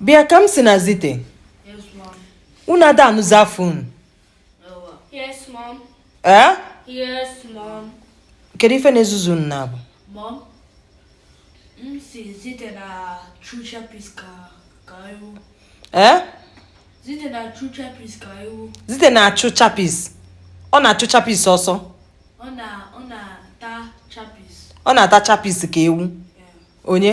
bịa kamsi na zite unu ada anụzi afa unu ee kedu ife na-ezuzu unu n'abụọ ee zite na-achụ chapis ọ na-achụ chapis ọsọ ọ na-ata chapis ka ewu onye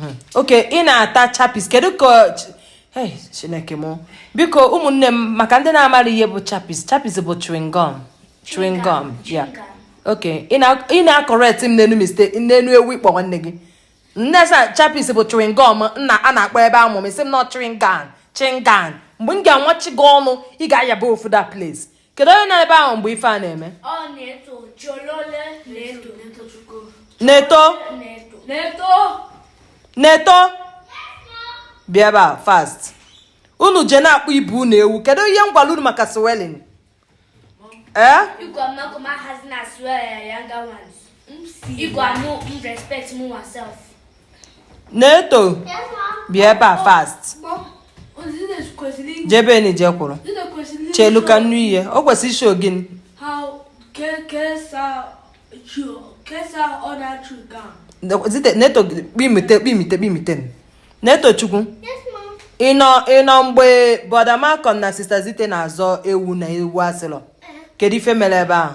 hmm. okay ị na-ata chapis kedu ka chineke m biko ụmụnne m maka ndị na-amara ihe bụ chapis chapis bụ chewing gum chewing gum yeah okay ị na-acorrect m n'enu mistake n'enu ewu ị kpọ nwanne gị nne sa chapis bụ chewing gum a na-akpọ ebe amụ m ị sị m na ọ chewing gum chewing gum mgbe m ga-anwachi gị ọnụ ị ga-ayaba ofu that place kedu onye nọ ebe ahụ mgbe ife a na-eme neto neto bịa ebe a fast unu je na-akpọ ibe unu ewu kedu ihe m gwara unu maka swearing ee Igwe amụ m respect m myself. neto bịa ebe a fast jebenụ je kwụrụ chelu ka m nụ ihe o kwesịrị ị show gịnị neto kpimite kpimite kpimite netochukwu ị nọ ị nọ mgbe brother malcolm na sister zite na-azọ ewu na ewu asịlọ kedu ife mere ebe ahụ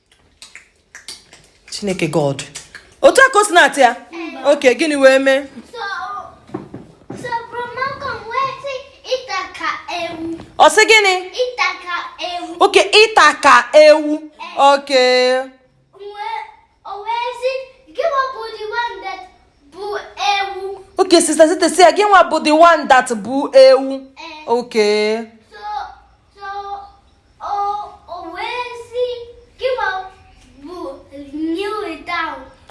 chineke god otu a ka o si na-ata ya okay gịnị wee mee ọ sị gịnị okay ị ta ka ewu okay okay sister zite sị ya gị nwa bụ the one that bụ ewu okay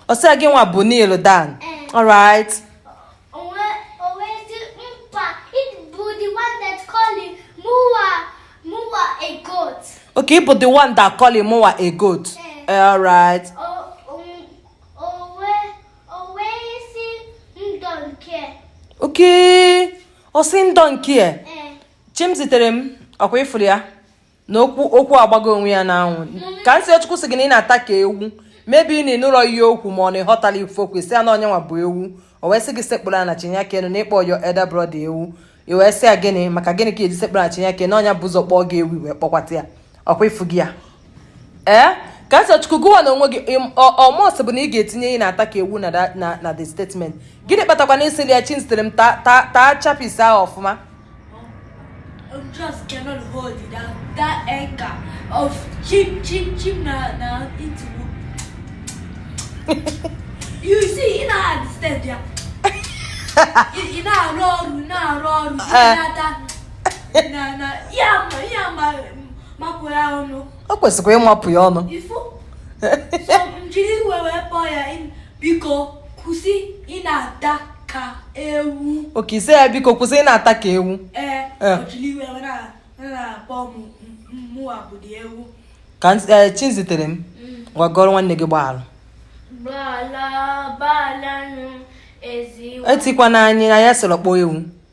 ọ sị gị nwa bụ kneel down eh. alright okay ị bụ the one that call him mụwa a goat eh. Eh, alright okay ọ sị m don't care chimziterem ọkwa ị fụrụ ya na okwu okwu agbago onwe ya n'anwụ kamsiyochukwu sị gị na ị na-ata ka ewu maybe na ị nụrọ ihe o kwu ma ọ na ị ghọtalọ ife o kwu ị sị ya na ọ nya nwa bụ ewu o wee sị gị sekpuru ana chinye aka enu na ị kpọ your elder brother ewu i wee sị ya gịnị maka gịnị ka e ji sekpuru ana chinye aka enu ọ nya bu ụzọ kpọọ gị ewu i wee kpọkwata ya ọkwa ịfụ gị ya ee ka nsọ Chukwu gụwa na onwe gị ọ must bụ na ị ga-etinye ị na-ata ka ewu na the statement gịnị kpatakwa na ị sịlị ya Chizitere m taa chapis ahụ ọfụma I'm just cannot hold it. That, that anger of chip, chip, chip now, now it You see, in our understand, yeah. in our role, in our role, in our o kwesịkwa ịmapụ ya ọnụ jiri iwe wee kpọọ ya biko kwụsị ị na-ata ka ewu okay ị sị ya biko kwụsị ị na-ata ka ewu ee eh. jiri iwe wee na-akpọ mụwa bụ dị ewu ka eh, Chizitere m mm. gwagọrọ nwanne gị gbaalụ etikwana anyị anya sịrọ kpọọ ewu